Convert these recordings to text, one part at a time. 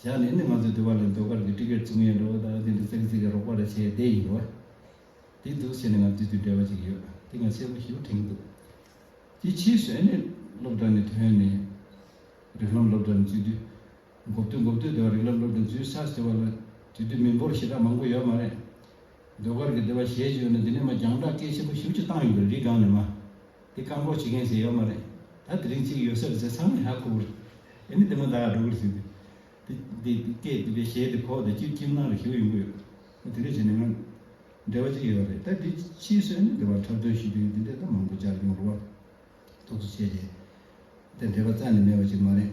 ཞག་ལས་ནི་ང་ཚོས་འདུལ་བ་ལ་མཛོད་དཀར་གྱི་སྤྲི་གེར་བཙུགས་ཡས་འགྲོ་བ་དང་དེ་འདྲ་ཙག་ཙིག་གི་རོགས་པ་རེ་བྱས་བསྡད་ཡིན་འགྲོ། དེ་འདུག་བྱས་ནས་ང་དུས་དུས་བྲེལ་བ་ཅིག་ཡོད་དེ་ང་ཚད་པོ་ཞིབ་དྲན་གྱི་འདུག། དེ་ཕྱིས་སུ་ཨེ་ནས་སློབ་གྲྭ་ནས་ཐོན་ནས་རིགས་ལམ་སློབ་གྲྭ་ནས་འཛུལ་དུས། འགོ་བསྟོད་འགོ་བསྟོད་དེ་བ་རིགས་ལམ་སློབ་གྲྭ་ནས་འཛུལ་ས་ཟེར་བ་ལ་དུས་དུས་མི་འབོར་ཞེ་དྲག་མང་པོ་ཡོད་མ་རེད། ཟློས་གར་གྱི་སྡེ་བ་ཞེས་བརྗོད་ནས་འདི་ནས་མ་རྒྱང་བསྒྲགས་སྐད་ཆེན་པོ་ཞིབ་ཅིག་བཏང་ཡོད་པའི་རིགས་གང་ནས་མ། འདི་བཀག་འགོག་བྱེད་མཁན་ཞིག་ཡོད་མ་རེད། ད་དེ་རིང་གཅིག་ཡོད་སར་ཟེར་ཚང་མས་ཧ་གོ་གི་རེད། དེ་ནི་དེ་མ་ད་སྒྲོ་གུར་ཟེར་དུས། དེ་དེ་སྐད་དེ་བས་ཞེས་དེ་གོ་དེ་ཅིར་ཅིར་གནང་རེ་ཞུ་ཡོང་གི་ཡོད། ད་དེ་འདྲ་བྱས་ནས་ང། འབྲེལ་བ་ཅིག་ཡོད་རེད་ད་དེ་ཕྱིའི་སོན་ནི་འབྲེལ་བ་འཁྲབ་སྟོན་ཞུ་དུས་འདི་འདྲས་ད་མང་པོ་བཅར་ཡོང་རུང་བ། ཐུགས་རྗེ་ཆེ། དེ་འབྲེལ་བ་རྩ་ནས་མེད་པ་ཞིག་མ་རེད།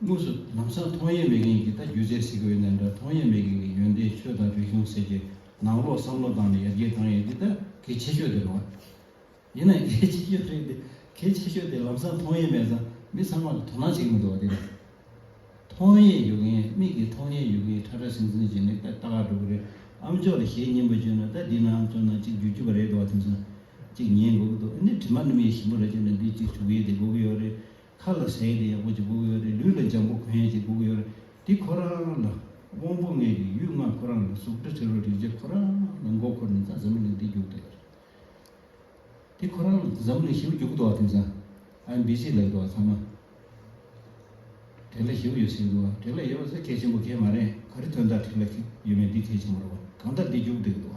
དངོས་སུ་ནང་སང་མཐོང་ཡས་མེད་མཁན་གྱི་ད་རྒྱུ་རྩལ་ཟེར་གི་འོད་ནས་འདྲ་མཐོང་ཡས་མེད་མཁན་གྱི་ཡོན་ཏན་ཆོས་དང་རིག་གཞུང་ཟེར་གྱི་ནང་ལོག་བསམ་བློ་བཏང་ནས་ཡར་རྒྱས་བཏང་ཡས་འདི་ད་གལ་ཆེ་ཤོས་དེ་རེད། ཡིན་ན་གལ་ཆེ་ཤོས་རེད་དེ་གལ་ཆེ་ཤོས་དེ་ལམ་སང་མཐོང་ཡས་མེད་སང་མི་ཚང་མར་དོ་སྣང་བྱེད་གི་མི་འདུག་བ་དེ་རེད། མཐོང་ཡས་ཡོད་མཁན་མིག་གིས་མཐོང་ཡས་ཡོད་མཁན་ཁྲ་ཁྲ་ཟིང་ཟིང་བྱས་ནས་ད་ལྟ་ག་འགྲོ་གི་རེད་ཨམ་ཅོག་ལ་ཞེད་སྙིང་པོ་བཅོས་ན་ད་འདི་ན་ཨམ་ཅོག་ནང་གཅིག་འཇུ་རྒྱུ་བ་རེད་འདུག་བ་དེ་མཚོན་ཅིག་ཉན་དགོས་གི་འདུག་ཨ་ནི་དྲི་མ་ནུབ་ཡས་ཞིམ་པོ་ར་བཅོས་ན་འདི་གཅིག་བྱུག་ཡས་དེ་དགོས་གི་ཡོད་རེད། མཁའ་ལ་ཟེར་དེ་ཡག་པོ་ཅིག་སྒུག་ཡོད་རེད་ལུས་ལ་འཇམ་པོ་གོན་ཅིག་སྒུག་ཡོད་རེད་འདི་ཁོ་རང་ལ། དབང་པོ་ལྔས་ཀྱི་ཡུལ་ལྔ་ཁོ་རང་ལ་གཟུགས་སྒྲ་དྲི་རོ་རེག་བྱ་ཁོ་རང་ལ་མགོ་འཁོར་ནས་ད་ཟམ་གླིང་འདི་རྒྱུག་འདོད་རེད། འདི་ཁོ་རང་ལ་ད་ཟམ་གླིང་བཞི་བོ་རྒྱུག་འདུག་བ་དེང་སང་ཨ་འབི་སི་ལབ་འདུག་བ་ཚང་མ་དེ་ལ་བཞི་བོ་ཡོད་ཟེར་འདུག་བ་དེ་ལ་ཡོད་བ་ཚོ་གལ་ཆེན་པོ་གལ་མ་རེད་ག་རེ་དོན་དག་དེ་ལ་ཡོད་མེད་འདི་གལ་ཆེན་པོ་རེད་བ་གང་ལྟར་འདི་རྒྱུག་འདོད་འདུག་བ་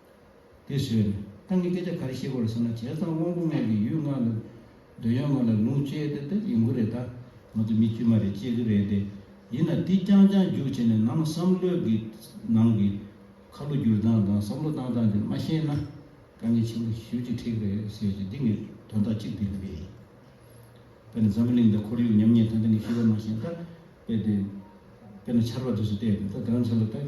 དེ་བཟོས། ཏང་གི་སྐད་ཆ་ག་རེ་བཤད་དགོས་རེད་ཟེར་ན་བྱས་ཙང་དབང་པོ་ལྔའི་ལས་ཡུལ་ལྔ་ལ། འདོད་ཡོན་ལྔ་ལ་ལུང་བཅད་དེ་དེ་ཡིན་གྱི་རེད་ད། ང་ཚོ་མི་དཀྱུས་མ་རེད་ཅེས་ཀྱི་རེད་དེ། ཡིན་ན་དེ་རྐྱང་རྐྱང་རྒྱུགས་བྱས་ནས་ནང་བསམ་བློའི་གི་ནང་གི། ཁ་ལོ་བསྒྱུར་སྟངས་དང་བསམ་བློ་བཏང་སྟངས་དེ་མ་ཤེས་ན། དཀའ་ངལ་ཆེན་པོ་ཞུ་རྒྱུ་ཁྲིག་རེད་ཟེར་གྱི་འདི་ངས་དོན་དག་གཅིག་བསྡུས་འདུག་པས། དཔེར་ན་འཛམ་བུ་གླིང་འདི་ཁོར་ཡུག་ཉམས་ཉེས་ཐོན་ཐེངས་ཀྱི་ཤེས་པ་མ་ཤེས་ད། དཔེ་དེ། དཔེར་ན་ཆར་བ་དུས་སུ་བལྟས་དེ་ད་གང་ཆགས་ལ་ལྟ།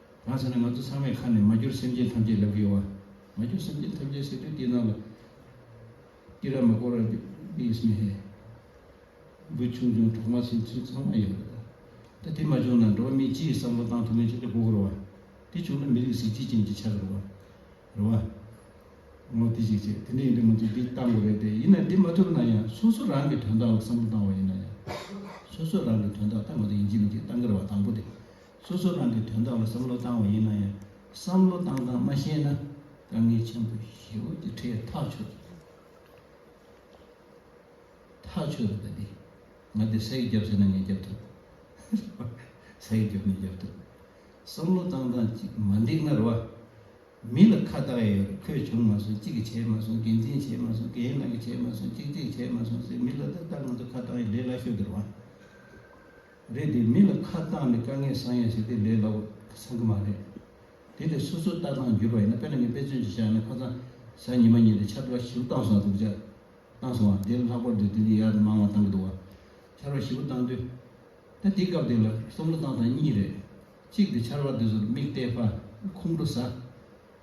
གང་ཟེར་ན་ང་ཚོ་ཚང་མས་ཁ་ནས་མ་གྱུར་སེམས་ཅན་ཐམས་ཅད་ལབ་ཀྱི་ཡོད་བ། མ་གྱུར་སེམས་ཅན་ཐམས་ཅད་ཟེར་དུས་དེ་ནང་ལ་ཏི་ར་མ་ཀོ་ར་བི་ཨིས་མི་ཧེ། འབུ་ཆུང་ཆུང་གྲོག་མ་སྲིན་ཚུལ་ཚང་མ་ཡོད་པ་དང། ད་དེ་མ་བྱུང་ན་འགྲོ་བ་མི་སྤྱི་ཡི་བསམ་བློ་བཏང་ཐུབ་མིན་ཆ་ཆ་གོ་གི་རེད་བ། དེ་བྱུང་ན་མི་རིགས་གཟི་བརྗིད་ཅན་གྱི་ཆགས་ཀྱི་རེད་བ། རེད་བ། ངོ་དེ་ཞིག་བྱེད་དེ་འདྲ་ཡིན་དུས་ང་ཚོས་འདི་བཏང་དགོས་རེད་དེ་ཡིན་ན་དེ་མ་ཐུབ་ན་ཡང་སོ་སོ་རང་གི་དོན་དག་ལ་བསམ་བློ་བཏང་བ་ཡིན་ན་ཡང། སོ་སོ་རང་གི་དོན་དག་བཏང་གི་འདུག་ཡིན་གྱི་མི་གྱི་བཏང་གི་རེད་བ་དང་པོ་དེ། སོ་སོ་རང་གི་དོན་དག་ལ་བསམ་བློ་བཏང་བ་ཡིན་ན་ཡང་བསམ་བློ་བཏང་སྟངས་མ་ཤེས་ན་དཀའ་ངལ་ཆེན་པོ་ཞེའོ་དེ་ཁྲའི་ཐག་ཆོད་རེད། ཐག་ཆོད་རེད་པ་འདི། ང་འདིར་ཟས་ཀྱི་རྒྱབ་ཟེར་ན་ངས་རྒྱབ་ཐུབ། ཟས་ཀྱི་རྒྱབ་ནས་རྒྱབ་ཐུབ། བསམ་བློ་བཏང་སྟངས་ཅིག་མ་འདེགས་ན་རེ་བ། མི་ལ་ཁ་བཏགས་ཡས་ཡོད་རེད་ཁོས་བྱུང་མ་སོང་གཅིག་གིས་བྱས་མ་སོང་འགན་འཛིན་བྱས་མ་སོང་གཞན་ལགས་ཀྱིས་བྱས་མ་སོང་གཅིག་གཅིག་བྱས་མ་སོང་ཟེར་མི་ལ་ད་ལྟ་ང་ཚོ་ཁ་བཏགས་ཡས་ལས་སླ་ཤོས་དེ་རེ་བ། རེད་དེ་མི་ལ་ཁ་བཏང་ནས་དཀའ་ངལ་བཟང་ཡ་ཞིག་དེ་ལས་ལོག་ས་གི་མ་རེད་དེ་ལས་སོ་སོ་ལྟ་སྟངས་འགྱུར་བ་ཡིན་ན་དཔེར་ན་ངས་དཔེ་མཚོན་གྱི་བཞག་ན་ཁོ་ཚང་ས་ཉི་མ་གཉིས་ལས་ཆར་པ་བཞི་བོ་བཏང་སོང་བ་འདུག་ཆར་བཏང་སོང་བ་དེ་ལ་ལྷག་པར་དུ་དེ་འདྲའི་ཡར་དུ་མང་བ་བཏང་གི་འདུག་བ་ཆར་པ་བཞི་བོ་བཏང་དུས་ད་དེའི་སྐབས་དེ་ལ་བསམ་བློ་བཏང་སྟངས་གཉིས་རེད་གཅིག་དེ་ཆར་པ་དེ་ཚོར་མིག་གཏད་ཕ་ཁུང་བྲོ་ཟ།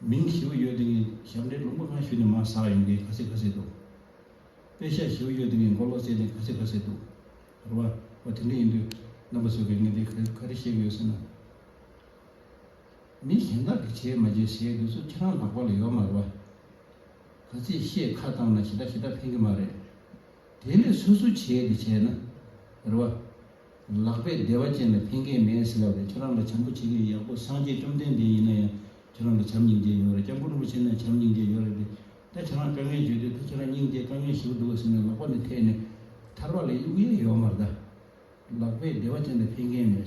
མིང་བཞི་བོ་ཡོད་དེ་ངས་ཞབས་འདྲེན་ལུང་པ་གང་ཞུས་ནས་མར་ཟགས་ཡོང་གིན་ག་སྲིད་ག་སྲིད་འདུག། དཔེ་ཤག་བཞི་བོ་ཡོད་དེ་ངས་མགོ་ལོག་བཙལ་ནས་ག་སྲིད་ག་སྲིད་འདུག། རེ་བ། འོ་དེ་འདྲ་ཡིན་དུས། རྣམ་པ་བཟོས་པའི་ངས་འདི་ག་རེ་ག་རེ་བཤད་གི་ཡོད་ཟེར་ན། མི་གཞན་དག་གིས་བྱས་མ་བྱས་ཟེར་དུས་སུ་ཁྱེད་རང་ལག་པ་ལ་ཡོད་མ་རེ་བ། ག་ཚད་བཤད་ཁ་བཏང་ན་ཞེ་དྲག་ཞེ་དྲག་ཕན་གི་མ་རེད། དེ་ལས་སོ་སོ་བྱས་དེ་བྱས་ན། རེ་བ། ལག་པས་བདེ་བ་ཅན་ལ་ཕན་ཁེ་མེད་ཟེར་བ་ལས་ཁྱེད་རང་ལ་བྱམས་པོ་བྱེད་མཁན་ཡག་པོ་སངས་རྒྱས་བཅོམ་ལྡན་འདས་ཡིན་ན་ཡང་ཁྱེད་རང་ལ་བྱམས་སྙིང་རྗེ་ཡོད་རེད་སྐྱབས་མགོན་རིན་པོ་ཆེ་ན་བྱམས་སྙིང་རྗེ་ཡོད་རེད་དེ་ད་ཁྱེད་རང་དཀའ་ངལ་བརྗོད་དུས་ད་ཁྱེད་རང་སྙིང་རྗེ་དཀའ་ངལ་ཞིག་འདུག་ག་ཟེར་ནས་ལོག་པ་ནི་ཐད་ནས་ཐར་བ་ལས་དབྱུག་ཡ་ཡོད་མ་རེད། ལག་པས་བདེ་བ་ཅན་ལ་ཕན་ཁེ་མེད།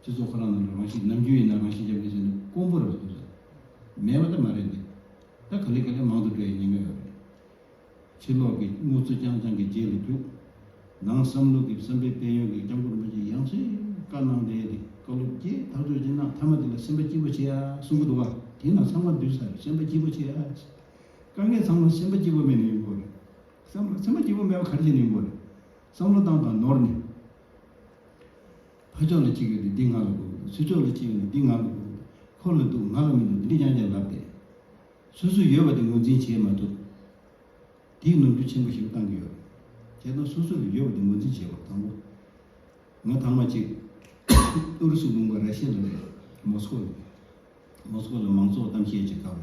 སྤྱི་ཚོགས་ཁོ་རང་ནང་ལ་རང་ཤི་ནམ་རྒྱུན་ཡིན་ན་རང་ཤི་རྒྱབ་ཀྱི་བྱས་ན་དཀོན་པོ་རེད་འདུག་ཟེར། མེད་པ་ད་མ་རེད་འདུག་ད་ག་ལེ་ག་ལེ་མང་དུ་འགྲོ་ཡི་ཉེན་ཀ་ཡོད་རེད། ཕྱི་ལོག་གི་དངུལ་རྩུ་རྐྱང་རྐྱང་གི་རྗེས་ལ་རྒྱུག། ནང་བསམ་ལུགས་ཀྱི་བསམ་པའི་དཔལ་ཡོན་གྱི་རྐྱང་འཁོར་མ་ཅིག་ཡང་ཚོད་དཀའ་གནང་སྟེ་འདི་བཀའ་སློབ་བརྒྱད་ཐག་གཅོད་བྱེད་ན་མཐའ་མ་དེ་ལ་སེམས་པ་སྐྱིད་པོ་བྱེད་ཨ་གསུང་གི་འདུག་ག་དེ་ན་ཚང་མ་འདུས་སར་སེམས་པ་སྐྱིད་པོ་བྱེད་ཨ། དཀའ་ངལ་ཚང་མ་སེམས་པ་སྐྱིད་པོ་མེད་ནས་ཡོང་དགོས་རེད། སེམས་པ་སྐྱིད་པོ་མེད་པ་ག་རེ་བྱས་ནས་ཡོང་དགོས་རེད། བསམ་བློ་བཏང་དང་ནོར་ནས། ཕ་ཕྱོགས་ལ་གཅིག་ཡོད་དེ་འདི་ང་ལ་དགོས། སྲོད་ཕྱོགས་ལ་གཅིག་ཡོད་ནས་འདི་ང་ལ་དགོས། ཁོ་ལ་འདུག་ང་ལ་མི་འདུག་འདི་འདི་ཀྱང་ཀྱང་ལབ་སྟེ། སོ་སོའི་ཡོད་པ་དེ་ངོས་འཛིན་བྱེད་མ་ཐུབ། དེས་ནོར་འཁྲུལ་ཆེན་པོ་ཞིག་ལ་བཏང་གི་ཡོད། དེ་དང་སོ་སོ་ལ་ཡོད་པ་དེ་ངོས་འཛིན་བྱེད་པར་དང་པོ། ང་ཐང་མ་གཅིག། ཨུ་རུ་སུའི་དགོན་པ་ར་ཤི་ལ་རེད། མོ་སི་ཀོ་ལ་རེད། མོ་སི་ཀོ་ལ་མང་གཙོ་བ་གཏམ་བཤད་བྱེད་སྐབས་ལ།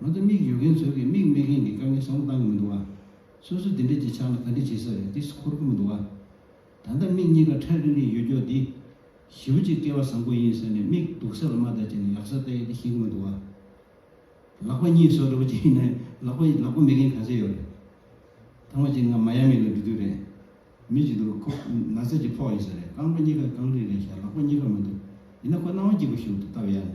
ང་ཚོ་མིག་ཡོད་མཁན་ཚོས་ཀྱི་མིག་མེད་མཁན་གྱི་དཀའ་ངལ་བཟང་པོ་བཏང་གི་མི་འདུག་ཨ། སོ་སོ་དེ་འདྲས་ཀྱི་ཆགས་ན་ག་འདྲས་བྱེད་ས་རེད་འདི་སུ་འཁོར་གི་མི་འདུག་ཨ། ད་ལྟ་མིག་གཉིས་ཀ་ཁྲ་རིང་རིང་ཡོད་རྒྱོ་འདི། ཞི་བུ་གཅིག་སྐལ་བ་བཟང་པོ་ཡིན་ཟེར་ནས་མིག་སྡུག་ས་ལ་མ་བལྟ་བྱས་ནས་ཡག་ས་བལྟ་ཡ་འདི་ཞིག་གི་མི་འདུག་ཨ། ལག་པ་གཉིས་སོ་རེ་བོ་ཅིག་ཡིན་ན་ལག་པ་ལག་པ་མེད་མཁན་ག་ཚད་ཡོད་རེད། ཐང་བ་ཅིག་ང་མ་ཡ་མི་ལ་འགྲོ་དུས་རེད། མི་ཅིག་འདུག་ཁོ་ན་ཚ་ཅིག་ཕོག་ཡོད་ས་རེད་རྐང་པ་གཉིས་ཀ་རྐང་རིང་རིང་ཤག་ལག་པ་གཉིས་ཀ་མ་འདུག་ཡིན་ན་ཁོ་སྣང་བ་སྐྱིད་པོ་ཞིག་འདུག་སྟབས་ཡག་ནི།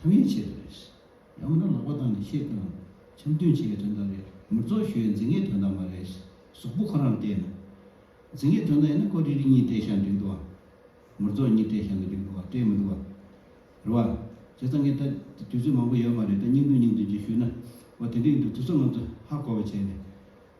ཐབས་ཡོད་ཆེ་རེད། ཡང་མིན་ན་ལག་པ་བཏང་ནས་ཤེས་དང། འཆམ་མཐུན་བྱེད་ཡའི་དོན་དག་རེད། མིར་རྫོགས་ཞུ་ཡའི་འཛིན་མཁན་དོན་དག་མ་རེད། ཟོག་པོ་ཁོ་རང་བལྟས་ན། འཛིན་མཁན་དོན་དག་ཡིན་ན་ཁོ་རིག་རིག་གཉིས་བལྟས་ཤག་འགྲིག་འདུག་ཨ། མིར་རྫོགས་གཉིས་བལྟས་ཤག་ནི་འགྲིག་འདུག་ཨ་བལྟས་མི་འདུག་ཨ། རེད་བ། བྱས་ཙང་ངས་ད། དུས་ཚོད་མང་པོ་ཡོད་མ་རེད་ད་སྙིང་འདོན་སྙིང་འདོན་ཅིག་ཞུས་ན། འོ་དེ་འགྲིག་འདུག་དུས་ཚོད་ང་ཚོ་ཧ་གོ་བ་བྱས་ནས།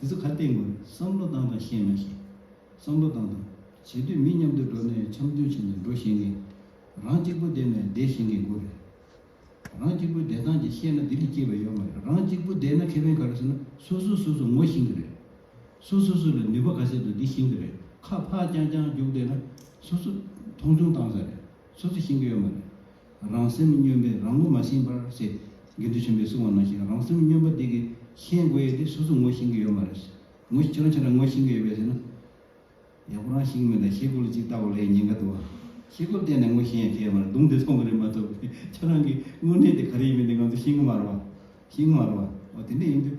དེ་ཚོ་ག་སྟེ་དགོས་བསམ་བློ་བཏང་དང་ཤེས་མ་ཤེས་བསམ་བློ་བཏང་དང་བྱེས་དུས་མི་མཉམ་དུ་འགྲོ་ནས་འཆམ་མཐུན་བྱས་ནས་འགྲོ་ཤེས་ངེས། རང་གཅིག་པུ་བསྡད་ནས་བསྡད་ཤེས་ངེས་དགོས་རེད། རང་གཅིག་པུའི་བསྡད་སྟངས་ཀྱི་ཤེས་ན་ལྡི་ལི་སྐྱེས་པ་ཡོད་མ་རེད་རང་གཅིག་པུ་བསྡད་ན་ཁེ་ཕན་ག་རེ་ཟེར་ན་སོ་སོས་སོ་སོ་ངོ་ཤེས་ཀྱི་རེད། སོ་སོས་སོ་ལ་ནུས་པ་ག་ཚད་འདུག་འདི་ཤེས་ཀྱི་རེད་ཁ་ཕག་རྐྱང་རྐྱང་རྒྱུགས་བསྡད་ན་སོ་སོས་མཐོང་ཆུང་བཏང་ས་རེད་སོ་སོས་ཤེས་ཀྱི་ཡོད་མ་རེད། རང་སེམས་སྨྱོན་པས་རང་ངོ་མ་ཤེས་པར་བྱེད། དགེ་འདུན་ཆེན་པོས་གསུང་བ་ནང་བཞིན་རང་སེམས་སྨྱོན་པ་དེ་གིས་ཤེས་དགོས་ཡོད་དེ་སོ་སོ་ངོ་ཤེས་ཀྱི་ཡོད་མ་རེད། ངོ་ཁྱེད་རང་ཁྱེད་རང་ངོ་ཤེས་ཀྱི་ཡོད་པས་ཟེར་ན། ཡག་པོ་རང་ཤེས་ཀྱི་མེད་ད་ཤེས་དགོས་ལ་ཅིག་བལྟ་བ་ལས་ཉེན་ཁ་འདུག་ཨ། ཤེས་དགོས་བལྟས་ནས་ངོ་ཤེས་ཡང་ཁྱད་མ་རེད་གདུང་དེ་ཚོང་གི་རེད་མ་གཏོགས་པས་ཁྱེད་རང་གི་དངོས་གནས་དེ་ག་རེ་ཡིན་མིན་དེ་ང་ཚོ་ཤེས་ཀྱི་མ་རེད་བ། ཤེས་ཀྱི་མ་རེད་བ། འོ་དེ་འདྲ་ཡིན་དུས།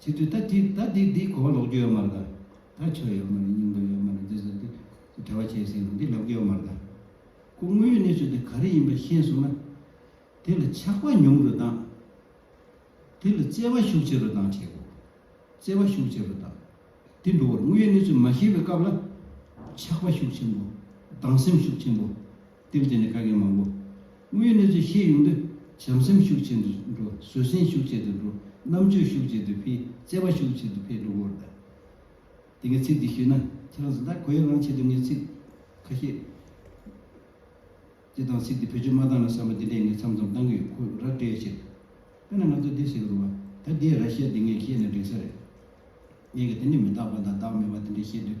ཅི་དུས་ད་དེ་ད་དེ་འདི་གོ་བ་ལོག་རྒྱུ་ཡོད་མ་རེད་ད། ད་ཆོས་ཡོད་མ་རེད་སྙིང་དོན་ཡོད་མ་རེད་འདི་ཟེར་ཏེ་དེ་བྲལ་བ་བྱས་ཟིན་ན་འདི་ལབ་རྒྱུ་ཡོད་མ་རེད་ད། སྐུ་དངོས་ཡོད་གནས་ཚུལ་དེ་ག་རེ་ཡིན་པ་ཤེས་སོང་ན། དེ་ལ་ཆགས་པ་ཉུང་རུ་དང། དེ་ལ་བརྩེ་བ་ཤུགས་ཆེ་རུ་དང་བྱེད་དགོས། བརྩེ་བ་ཤུགས་ཆེ་རུ་དང། དེ་འགྲོ་བར་དངོས་ཡོད་གནས་ཚུལ་མ་ཤེས་པའི་སྐབས་ལ། ཆགས་པ་ཤུགས་ཆེན་པོ། སྡང་སེམས་ཤུགས་ཆེན་པོ། བསྟན་བཅོས་ནི་ཁ་སྐད་མང་པོ། དངོས་ཡོད་གནས་ཚུལ་ཤེས་ཡོང་དུས་བྱམས་སེམས་ཤུགས་ཆེ་དུ་འགྲོ་བཟོད་བསྲན་ཤུགས་ཆེ་དུ་འགྲོ་རྣམ་དཔྱོད་ཤུགས་ཆེ་དུ་འཕེལ་དཔྱད་པ་ཤུགས་ཆེ་དུ་འཕེལ་འགྲོ་སྐོར་གདའ། དེ་སྔའི་ཚིག་འདི་ཞུས་ན་ཁྱེད་རང་ཚོ་ད་གོ་ཡ་ལང་ཆེད་དུ་ངས་ཚིག་ཁ་ཤས་འདི་དང་ཚིག་འདི་བེད་སྤྱོད་མ་བཏང་ན་བསམ་པ་འདི་འདྲས་ངས་མཚམས་མཚམས་བཏང་གི་ཡོད་ཁོ་ར་སྤྲད་ཕྱིར། དཔེར་ན་ང་ཚོ་འདི་ཟེར་གི་འདུག་བ་ད་འདིའི་ར་བཤད་འདི་ངས་ཤེས་ནས་འགྲིག་ས་རེད། ངས་ཀྱང་དེ་འདྲས་མི་རྟག་པ་དང་བདག་མེད་པ་འདི་འདྲས་བཤད་དུས།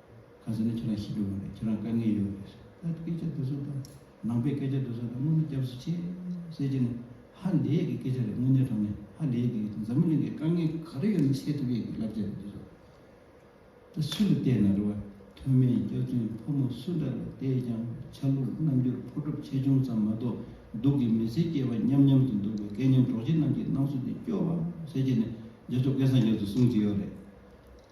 ག་ཟེར་ན་ཁྱེད་རང་ཤི་འགྲོ་གི་རེད་ཁྱེད་རང་དཀའ་ངལ་ཡོད་རེད་ཟེར། ད་སྐད་ཆ་འདི་ཚོ་དང་ནང་པའི་སྐད་ཆ་འདི་ཚོ་དང་དངོས་གནས་སྐྱབས་སུ་མཆི། གསལ་བྱེད་ནི་ཧ་ལས་ཀྱི་སྐད་ཆ་རེད་དངོས་གནས་དྲང་ནས་ཧ་ལས་ཀྱི་ཡོད་དོ་འཛམ་གླིང་གི་དཀའ་ངལ་ག་རེ་ཡོད་མི་ཤེས་ཐུབ་ཡས་ཀྱི་བསླབ་བྱ་རེད་འདི་ཚོ། ད་སུ་ལ་བལྟས་ན་རེ་བ་དོན་མེད་སྐྱག་རྫུན་ཕོ་མོ་སུ་འདྲ་ལ་བལྟས་ཀྱང་ཆ་ལུགས་རྣམ་འགྱུར་ཕོ་གྲུབ་ཆེ་ཆུང་ཙམ་མ་གཏོགས་སྡུག་གི་མི་ཚེ་སྐྱེལ་བ་མཉམ་མཉམ་དུ་འདུག་པའི་སྐལ་མཉམ་གྲོགས་མཆེད་རྣམས་ཀྱི་སྣང་ཚུལ་འདི་སྐྱོ་བ། གསལ་བྱེད་ནི་རྒྱ་ཕྱོགས་སྐད་སངས་རྒྱས་ཚོ་གསུང་ཅི་ཡོད་རེད།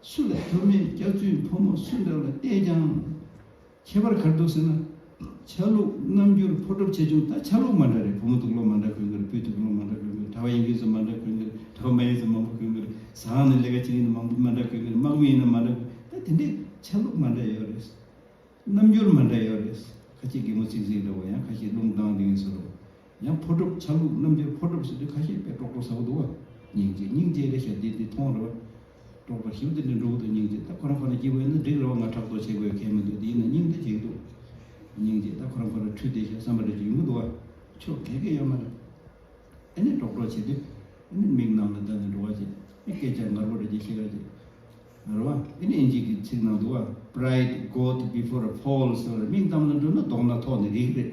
སུ་ལ་ཕོ་མེད་སྐྱག་རྫུན་ཕོ་མོ་སུ་འདྲ་བ་བལྟས་ཀྱང་ཁྱད་པར་གར་འདུག་ཟེར་ན། ཆ་ལུགས་རྣམ་འགྱུར་ཕོ་གྲུབ་ཆེ་ཆུང་དག་ཆ་ལུགས་མ་འདྲ་རེད་ཕོ་མོ་ཐུགས་ལོག་མ་འདྲ་གོས་འཁེལ་སྤུས་ཐུགས་ལོག་མ་འདྲ་གོས་འཁེལ་གྲྭ་བ་ཡིན་དུས་སུ་མ་འདྲ་གོས་འཁེལ་གྲྭ་བ་མ་ཡིན་དུས་སུ་མང་པོ་གོས་འཁེལ་ཟ་ཁང་ནས་ལས་ཀ་བྱེད་ཡུན་དུ་མ་འདྲ་གོས་འཁེལ་དམག་མི་ཡིན་ན་མ་འདྲ་གོས་འཁེལ་ད་དེ་འདྲའི་ཆ་ལུགས་མ་འདྲ་ཡོད་རེད། རྣམ་འགྱུར་མ་འདྲ་ཡོད་རེད། ཁ་ཅིག་རྒན་མོ་ཚིག་གཟིགས་འདྲ་བོ་ཡང་ཁ་ཅིག་རླུང་ལྡང་ལྡིང་ཟེར་རོ། ཡང་ཕོ་གྲུབ་ཆ་ལུགས་རྣམ་རྒྱལ་ཕོ་གྲུབ་ཟེར་དུས་ཁ་ཤས་པས་གྲོགས་པོ་ཟ་གོ་འདུག་བ། སྙིང་རྗེ་སྙིང་རྗེ་རེད་ཤག་འདི་འདི་ཐོང་རེད་བ། གྲོགས་པོ་ཞིབ་འདི་འདི་འགྲོ་གི་འདུག་སྙིང་རྗེ་ད་ཁོ་རང་ཁོ་ན་སྐྱིད་པོ་ཡོད་ན་འགྲིག་རེད་བ་ང་ཕྲག་དོག་བྱེད་དགོས་གལ་མི་འདུག་དེ་ཡིན་ན་སྙིང་རྗེ་གཅིག་འདུག། སྙིང་རྗེ་ད་ཁོ་རང་ཁོ་ན་འཁྲུལ་བསྡད་ཤག་བསམ་པ་རེ་ཅིག་ཡོང་གི་འདུག་བ། ཆོ་གས་གས་ཡོད་མ་རེད། ཨེ་ནས་གྲོགས་གྲོགས་བྱེད་དུས། ཨེ་ནས་མིག་ནང་ལ་བལྟ་ནས་འགྲོ་བ་བྱེད། ཨེ་སྐད་ཆ་ངར་པོ་རེ་ཅིག་བཤད་ག་བྱེད། རེད་བ། ཨེ་ནས་ཨིན་ཇིག་གི་ཚིག་ནང་འདུག་བ། Pride got before a fall ཟེར་བ་རེད་མིང་གཏམ་ལ་འགྲོ་ན་མདོག་སྣ་ཐོག་ནས་རིག་རེད།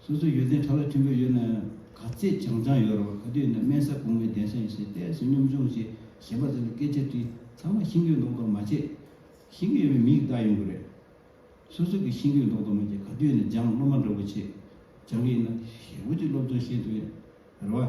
སོ་སོའི་ཡོད་ཚད་ཁྲ་བོ་ཁྲིམས་པོ་ཡོད་ན་ག་ཚད་བྱང་བྱང་ཡོད་རུང་ག་དུས་ན་དམན་ས་གོང་མའི་གདན་ས་ཡིན་ཞེས་གཏད་སོ་སྙོམས་ཆུང་ཞེས་གཞན་པ་ཚོ་ལ་སྐད་ཆ་དྲིས་ཚང་མ་ཤིང་སྐྱོན་མདོག་མདོག་མ་བྱེད། ཤིང་སྐྱོན་ཡོད་པའི་མིས་བདག་ཡོང་གི་རེད། སོ་སོ་གིས་ཤིང་སྐྱོན་མདོག་མདོག་མ་བྱེད་ག་དུས་ན་སྦྱངས་སློབ་མ་འདྲ་བོ་བྱེད་སྦྱང་གི་ཡིན་ན་ཞེས་འུ་ཅིག་སློབ་སྦྱོང་བྱེད་འདུག་ཡ་རེད་བ།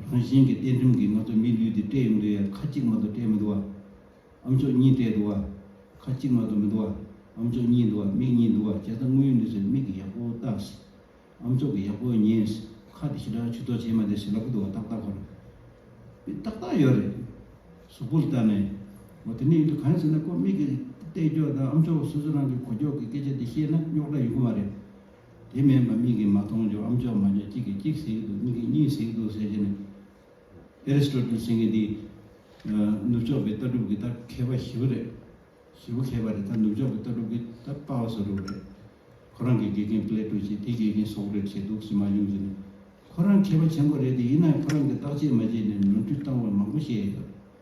རང་བཞིན་གྱི་གཏན་ཁྲིམས་ཀྱིས་ང་ཚོ་མིའི་ལུས་འདི་སྤྲད་ཡོང་དུས་ཡང་ཁ་གཅིག་མ་དུ་སྤྲད་མི་འདུག་བ། ཨམ་ཅོག་གཉིས་སྤྲད་འདུག་བ། ཁ་གཅིག་མ་དུ་མི་འདུག་བ། ཨམ་ཅོག་གཉིས་འདུག་བ་མིག་གཉིས་འདུག་བ་བྱས་ཙང་དངོས་ཡོད་གནས་ཚུལ་མིག་གི་ཡག་པོ་བལྟ། ཨམ་ཅོག་གི་ཡག་པོ་ཉན། ཁ་དེ་ཞེ་དྲག་ཆུ་ཐོག་བྱེད་མ་དེ་ཞེ་ལ་ཁུ་འདུག་བ་ཏག་ཏག་འཁོར། མི་ཏག་ཏག་ཡོད་རེད། གཟུགས་པོར་བལྟ་ནས། མོ་དེ་ནས་ཡོད་དུས་གང་ཡང་ཟེར་ན་ཁོ་མིག་གི་གཏད་རྒྱོག་དང་ཨམ་ཅོག་སོ་སོ་རང་གི་གོ་རྒྱོག་གི་སྐད་ཆ་དེ་བཤད་ན་རྙོག་དྲ་ཡོང་གི་མ་རེད། དེ་མེད་པར་མིག་གིས་མ་མཐོང་རྒྱུ་ཨམ་ཅོག་མ་རྒྱ་གཅིག་གིས་གཅིག་ཟེགས་འདུག་གཉིས་ཀྱིས་གཉིས་ཟེགས་འདུག་ཟེར་གྱི་ནི། Aristotle ཟེར་མཁན་འདིས། ནུབ་ཕྱོགས་པའི་ལྟ་གྲུབ་ཀྱི་ད་མཁས་པ་བཞི་བོ་རེད། བཞི་བོ་མཁས་པ་རེད་ད་ནུབ་ཕྱོགས་པའི་ལྟ་གྲུབ་ཀྱི་ད་དཔའ་བོ་ཟེར་རོ་རེད། ཁོ་རང་གི་དགེ་རྒན Plato ཅེས་དེའི་དགེ་རྒན Socrates ཞེས་འདུག་ཟེར་མ་ཡོང་གི་ནི། ཁོ་རང་མཁས་པ་ཆེན་པོ་རེད་དེ་ཡིན་ནའི་ཁོ་རང་གིས་བརྟག་དཔྱད་མ་བྱས་ནས་ནོར་འཁྲུལ་བཏང་བ་མང་པོ་བཤད་ཡོད།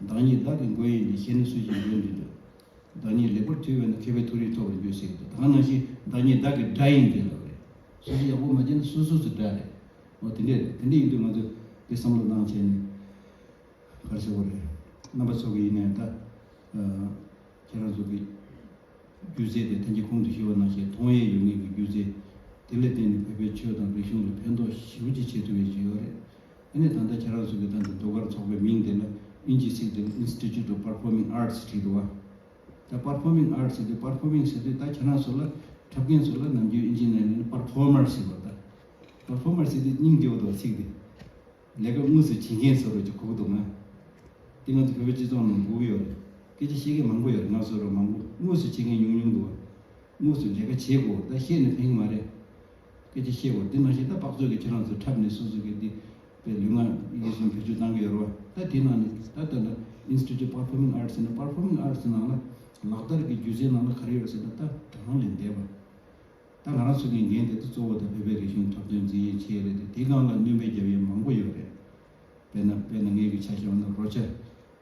བདག་ཉིད་བདག་གི་མགོན་ཡིན་ཏེ་ཤེས་ན་སུ་ཞིག་མགོན་འདི་ལ། བདག་ཉིད་ལེགས་པར་ཐོས་པས་ན་མཁས་པའི་ཐུགས་རིག་ཐོབ་པར་འགྱུར་ཟེར་གྱི་དང་ནང་བཞིན་བདག་ཉིད་བདག་གི་དགྲ་ཡིན་འདི་ལ་རེད། སུ་ཞིག་ཡག་པོ་མ་བྱས་ན་སོ་སོ་སོའི་དགྲ་རེད། འོ་དེ་འདྲས་རེད་དེ་འདྲས་ཡིན་དུས་ང་ཚོས་དེ་བསམ་བློ་གནང་བྱས་ནས་གར་བྱེད་དགོས་རེད། རྣམ་པ་ཚོགས་ཀྱི་ཡིན་ནའི་ད། ཁྱེད་རང་ཚོ་གི། སྒྱུ་རྩལ་དེ་ཐན་ཅིག་ཁོང་དུ་ཞུ་བ་ནང་བཞིན་མཐོང་ཡས་ཡོད་ངེས་ཀྱི་སྒྱུ་རྩལ། དེ་ལས་བརྟེན་ནས་བོད་པའི་ཆོས་དང་རིག་གཞུང་ལ་ཕན་ཐོགས་ཞིབ་ཅིག་བྱེད་ཐུབ་ཡས་ཆེ་ཡོད་རེད། དེ་ནས་ད་ལྟ་ཁྱེད་རང་ཚོ་གིས་བལྟ་འདི་ཟློས་གར་ཚོགས་པའི་མིང་དེ་ལ་དབྱིན་ཇིའི་ཚིག་དེར Institute of Performing Arts བྲིས་འདུག་བ། ད Performing Arts ཟེར་དུས Performing ཟེར་དུས་ད་ཁྱེད་རང་ཚོ་ལ་འཁྲབ་མཁན་ཚོ་ལ་ནམ་རྒྱུན་དབྱིན་ཇིའི་ནང་ནས་ནི Performer ཟེར་བ་དང། Performer ཟེར་དུས་སྙིང་རྗེ་བོ་འདུག་བ་ཚིག་དེ། ལས་ཀ་དངོས་སུ་བྱེད་མཁན་ཚོར་ཅིག་གོ་གི་འདུག་ང། འདི་ང་ཚོ་བོད་པའི་སྤྱི་ཚོགས་ནང་གོ་གི་ཡོད་རེད། སྐད་ཆ་བཤད་མཁན་མང་པོ་ཡོད་རེད་ང་ཚོར་མང་པོ་དངོས་སུ་བྱེད་མཁན་ཉུང་ཉུང་འདུག་བ། དངོས་སུ་ལས་ཀ་བྱེད་དགོས་བ་ད་བཤད་ནི་ཕན་གི་མ་རེད། སྐད་ཅིག་ཤེས་བོ་འདི་མ་ཤེས་ད་དཔག་ཚོད་ཀྱི་ཁྱེད་རང་ཚོས་འཁྲབ་ནས་སུ་སུ་གི་འདི་པའི་ལུས་ངག་ཡིད་གསུམ་བེད་སྤྱོད་བཏང་གི་ཡོད་རེད་བ་ད་དེ་ནང་ནས་ད་ལྟ་ན Institute of Performing Arts ནས Performing Arts ནང་ལ་ལག་བསྟར་གི་སྒྱུ་རྩལ་ནང་ལ་ག་རེ་ཡོད་རེད་ཟེར་ན་ད་དྲ་ཁང་ལས་འདས་པ་ད་ང་རང་ཚོ་གི་འགན་དེ་ད་གཙོ་བོ་ད་བོད་པའི་རིག་གཞུང་འཁྲབ་སྟོན་འཛིན་ཡས་ཆེས་རེད་དེ་དེ་སྒང་ལ་བསྣུན་པའི་རྒྱབ་ཡས་མང་པོ་ཡོད་རེད་དཔེར་ན་དཔེར་ན་ངེད་ཀྱི་ཆ་ཤས་བ་ན་རོ་ཅའ།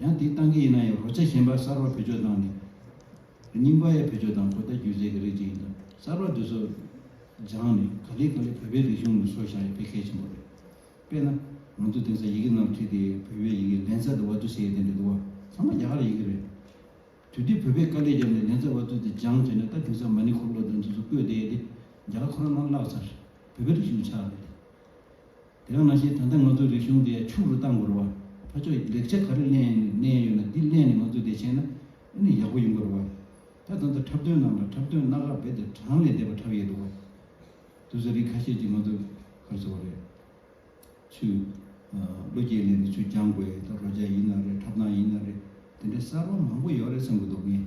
ཡང་དེ་བཏང་གི་ཡིན་ན་ཡང་གོ་ཆ་གཞན་པ་གསར་པ་བེད་སྤྱོད་བཏང་ནས་རྙིང་པ་ཡང་བེད་སྤྱོད་དང་གོ་བརྡ་སྒྱུ་རྩལ་གྱི་རིགས་ཅིག་ཡིན་སྟབས་གསར་པ་འདི་ཚོ་སྦྱངས་ནས་ག་ལེ་ག་ལེ་བོད་པའི་རིག་གཞུང་ལ་སོགས་བཞག་ཡོད་དཔེ་གལ་ཆེན་པོ་རེད། དཔེར་ན། ང་ཚོ་དེང་སང་ཡི་གེ་ནང་ཁྲིད་དེ་བོད་པའི་ཡི་གེ་ལན་ཚྭ་དང་བ་ཚུ་ཟེར་ཡོད་དེ་འདྲ་འདུག་བ་ཚང་མ་རྒྱ་གར་ཡི་གེ་རེད། དུས་དེ་བོད་པས་དཀའ་ལས་བརྒྱབ་ནས་ལན་ཚྭ་བ་ཚུ་དེ་སྦྱང་བྱས་ནས་ད་དེང་སང་མ་ཎི་འཁོར་ལོ་དེ་འདི་ཚོ་བཀོད་བསྡད་ཡོད་དེ་རྒྱ་གར་ཁོ་རང་ནང་བརླགས་ཚར་བོད་པའི་རིག་གཞུང་ཆགས་རེད། དེ་ག་མ་ཤེས་ད་ལྟ་ང་ཚོ་རིག་གཞུང་དེ་ཕྱུག་རུ་གཏང་དགོས་ར་བ་ཕ་ཕྱོགས་ཀྱི་ལེགས་ཆ་ག་རེ་གླན་གླན་ཡོད་ན་དེ་གླན་ནས་ང་ཚོ་བདེ་ཆེན་ན་ཨེ་ནི་ཡག་པོ་ཡིན་དགོས་ར་བ་ད་ད་ལྟ་འཁྲབ་སྟོན་རྣམས་ལ་འཁྲབ་སྟོན་སྣ་ག་བེད་དེ་གྲངས་ལས་འདས་པ་འཁྲབ་ཡས་འདུག་བ་དུ་ཟ་རིགས་ཁ་ཤས་ཀྱི་ང་ཚོ་གར་ཟེར་བ་རེད་ཆུ་བློ་རྒྱས་གླན་ནས་ཆུ་རྒྱང་དགོས་ད་རོ་རྒྱ་ཡིན་ན་རེད་འཁྲབ་སྟངས་ཡིན་ན་རེད་དེ་འདྲའི་གསར་བ་མང་པོ་ཡོད་རེད་བསམ་གྱི་འདུག་ངས།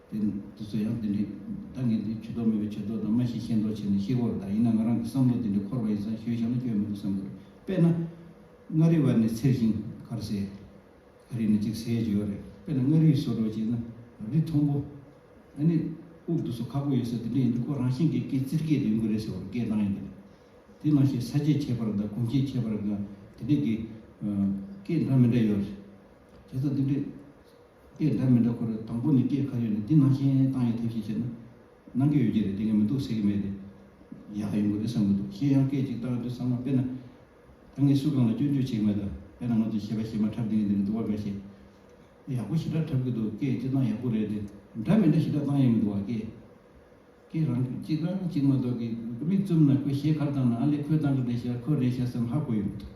དེ་འདི་ཚོ་ཡང་དེ་འདྲའི་ད་ངས་འདི་ཇུས་གཏོགས་མེད་པའི་ཇུས་གཏོགས་དང་མ་ཤེས་ཤེས་མདོག་བྱས་ནས་ཤེས་སྒོར་ད་ཡིན་ན་ང་རང་གི་བསམ་བློ་དེ་འདྲའི་འཁོར་བ་ཡིན་ཙང་ཞོད་བཞག་ན་སྐྱོན་མི་འདུག་བསམ་དགོས་རེད་དཔེར་ན། མངའ་རིས་བར་ནས་ཚེར་ཤིང་ཁར་ཟས། ཨ་རིས་ནས་གཅིག་ཟས་བརྗེ་བ་རེད་དཔེར་ན་མངའ་རིས་སོ་དྲོ་བྱས་ན་རི་མཐོན་པོ། ཨ་ནི། དབུགས་འདུ་སོ་ཁག་པོ་ཡོད་ས་དེ་འདྲ་ཡིན་དུས་ཁོ་རང་ཤིང་སྐད་སྐད་རྩིར་སྐད་དུ་ཡོང་གི་རེད་ཟེར་བར་སྐད་གདངས་ཡིན་དང། དེ་ནང་བཞིན་ས་བཅད་ཆད་པར་དང་གུང་བཅད་ཆད་པར་དགའ་དེ་འདྲའི་སྐད། སྐད་འདྲ་མི་འདྲ་ཡོད་རེད། བྱས་ཙང་དེ་འདྲའི། དེ་འདྲ་མི་འདྲ་ཁོ་རེ་དང་པོ་ནས་སྐད་ག་རེ་ཡོད་ན་འདི་ནང་བཞིན་བཏང་ཡོད་ཐབས་ཤེས་བྱས་ན། ནང་སྐད་ཡོད་ཀྱི་རེད་དེ་ངས་མི་འདུག་ཟེར་གྱི་མེད་རེད། ཡག་ཡོང་གི་རེད་བསམ་གྱི་འདུག་གཞན་ཡང་སྐད་ཅིག་བཏང་ཡོད་དུས་ཚང་མ་དཔེར་ན། ད་ངས་སུ་གང་ལ་སྐྱོན་བརྗོད་བྱེད་ཀྱི་མེད་ད་དཔེར་ན་ང་ཚོ་བྱས་པ་བྱས་མ་འཁྲབ་དེ་གི་འདི་ནས་འདུག་བ་འགའ་ཤས། ཡག་པོ་ཞེ་དྲག་འཁྲབ་གི་འདུག་སྐད་ཅིག་བཏང་ཡག་པོ་རེད་དེ་འདྲ་མི་འདྲ་ཞེ་དྲག་བཏང་ཡོད་མི་འདུག་བ་སྐད། སྐད་རང་གཅིག་རང་གཅིག་མ་གཏོགས་ཀྱི་མིག་བཙུམ་ན་ཁོས་ཞེ་གར་བཏང་ན་ཨ་ལེ་ཁོས་བཏང་གི་རེད་ཤག་ཁོས་རེད་ཤག་བསམ་ཧ་གོ་ཡོང་གི་འདུག།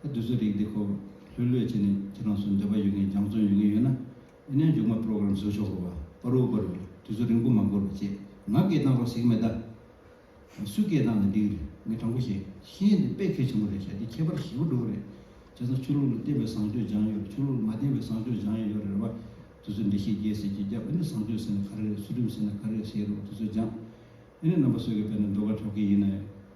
ཁ་དུས་ཚོད་རིགས་འདི་ཁོ་ལྷོད་ལྷོད་བྱས་ནས་ཁྱེད་རང་ཚོ་འདོད་པ་ཡོད་མཁན་རྒྱང་བཙོན་ཡོང་གི་ཡོད་ན་ཨི་ནའི་མཇུག་མ program བཟོ་ཆོག་གོ་པར་རུ་བསྐོར་བའི་དུས་ཚོད་རིང་པོ་མ་འགོར་བ་བཅས་ང་སྐད་བཏང་རོགས་ཟིག་མེད་ད། སུས་སྐད་བཏང་ན་འགྲིག་རེད་ངས་དྲང་པོ་བཤད་ཤེས་འདི་དཔེ་ཁེ་ཆེན་པོ་རེད་ཤ་འདི་ཁྱད་པར་ཞི་བོ་འགྲོ་གི་རེད་བྱས་ཙང་ཆོས་ལུགས་ལ་བརྟེན་པའི་བཟང་སྤྱོད་སྦྱང་ཡོད་ཆོས་ལུགས་ལ་མ་བརྟེན་པའི་བཟང་སྤྱོད་སྦྱང་ཡོད་ཡོད་རེད་བ་དུས་ཚོད་འདི་ཤེས་རྒྱལ་ཟེར་གྱི་རྒྱབ་ཨི་ནི་བཟང་སྤྱོད་ཟེར་ན་ག་རེ་རེད་ཚུལ་ཁྲིམས་ཟེར་ན་ག་རེ་རེད་བཤད་རོགས་དུས་ཚོད་སྦྱངས་ཨི་ནི་རྣམ་པ་གསོད་གི་བས་ན་འགྲོ་ག་འཕྲོག་གི་ཡིན་ནའི།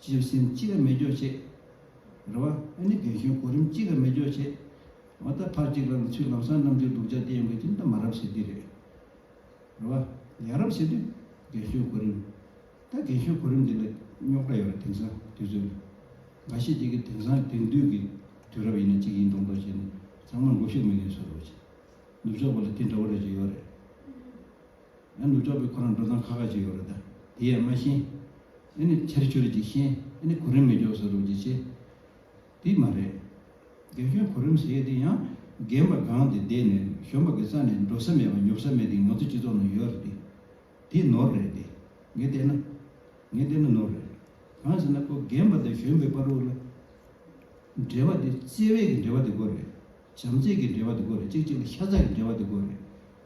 སྤྱིར་གཞན་གཅིག་ལ་མི་སྦྱོར་བྱེད། རེ་བ། ཨེ་ནི་རྒན་གཞོན་གོ་རིམ་གཅིག་ལ་མི་སྦྱོར་བྱེད། མ་ལྟ་ཕར་གཅིག་ལ་ནི་ཚུལ་ལམ་སྲང་ནམ་གཅིག་སྡུག་ཅག་དེ་ཡོང་གི་ཅི་འདི་མ་རབས་བྱེད་དུས་རེད། རེ་བ། ཡ་རབས་བྱེད་དུས། རྒན་གཞོན་གོ་རིམ། ད་རྒན་གཞོན་གོ་རིམ་འདི་ལ་རྙོག་དྲ་ཡོད་རེད་དེང་སང་དུས་ཚོད་ལ། འགའ་ཤས་ཀྱིས་ཀྱི་དེང་སང་དེང་དུས་ཀྱི་དུས་རབས་ཡིན་ན་གཅིག་ཡིན་མདོག་མདོག་བྱས་ནས་ཚང་མ་མགོ་ཤུགས་མི་ངན་ཚོ་རོགས་བྱེད། ནུབ་ཕྱོགས་པ་ལ་དེ་འདྲ་བོ་རེད་ཅེས་ཡོད་རེད། ཡང་ནུབ་ཕྱོགས་པའི་ཁོ་རང་འགྲོ་སྟངས་ཁ་ཁ་ཞིག་ཡོད་རེད་ད་དེ་ཡང་མ་ཤེས། ཨེ་ནི་ཆར་ཆུ་རེད་ཅེས་ཤེས་ཨེ་ནི་གོ་རིམ་མི་འཇོག་ས་རུབ་ཅེས་ཤེས། དེ་མ་རེད། རྒན་གཞོན་གོ་རིམ་ཟེར་དེ་ཡང་རྒན་པ་སྒང་དེ་བསྡད་ནས་གཞོན་པ་གི་རྩ་ནས་འགྲོ་ས་མེད་པ་ཉོབ་ས་མེད་དེ་ང་ཚོ་སྤྱི་ཚོགས་ནང་ཡོད་རེད་དེ། དེ་ནོར་རེད་དེ། ངས་བལྟས་ན། ངས་བལྟས་ན་ནོར་རེད། གང་ཟེར་ན་ཁོ་རྒན་པ་དང་གཞོན་པའི་བར་དབུ་ལ། འབྲེལ་བ་དེ་བརྩེ་བས་ཀྱི་འབྲེལ་བ་དེ་ཀོ་རེད། བྱམས་བརྩེ་གྱི་འབྲེལ་བ་དེ་ཀོ་རེད་ཅིག་ཅིག་ལ་ཤ་ཚ་གི་འབྲེལ་བ་དེ་ཀོ་རེད།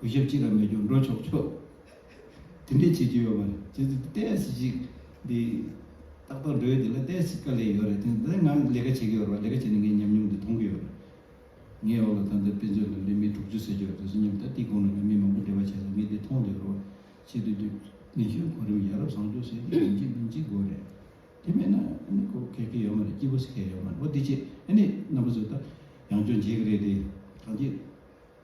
གུས་ཞབས་ཅི་ལ་མེད་རྒྱུར་འགྲོ་ཆོག་ཆོག། དེ་འདྲས་བྱེད་ཀྱི་ཡོད་པ་རེད། ཇི་སྲིད་བལྟས་སྲིད་ཅིག། འདི། ཏག་ཏག་འགྲོ་ཡུལ་འདི་ལ་བལྟས་སྲིད་དཀའ་ལས་ཡོད་རེད་དེ་འདི་ང་ལས་ཀ་བྱེད་ཀྱི་ཡོད་རེད་ལས་ཀ་བྱས་ནས་ངའི་ཉམས་མྱོང་འདི་མཐོང་གི་ཡོད་རེད། ངའི་འོག་ལ་ད་ལྟ་དཔེ་མཛོད་ལ་ལས་མི་དྲུག་ཅུ་ཟེར་གྱི་རེད་དེ་ཚོ་མཉམ་དུ་ད་ལྟའི་གོང་ནས་ལས་མི་མང་པོ་འབྲེལ་བ་བྱས་ཚར་ངས་འདི་མཐོང་ལས་རོགས། ཆེད་དུ་རྒྱུ། ནས་གཞོན་གོ་རིམ་ཡ་རབས་བཟང་སྤྱོད་ཟེར་གྱི་རེད་འཇིག་རྟེན་འཇིག་དགོས་རེད། དེ་མེད་ན་ནི་ཁོ་གལ་གི་ཡོད་མ་རེད་སྐྱིད་པོ་ཟེར་གལ་ཡོད་མ་རེད་འོ་འདི་བྱས་ནས་ནི་རྣམ་པ་ཚོས་ད་ཡང་སྐྱོན་བྱེད་ཀྱི་རེད་དེ། གང་ཅི།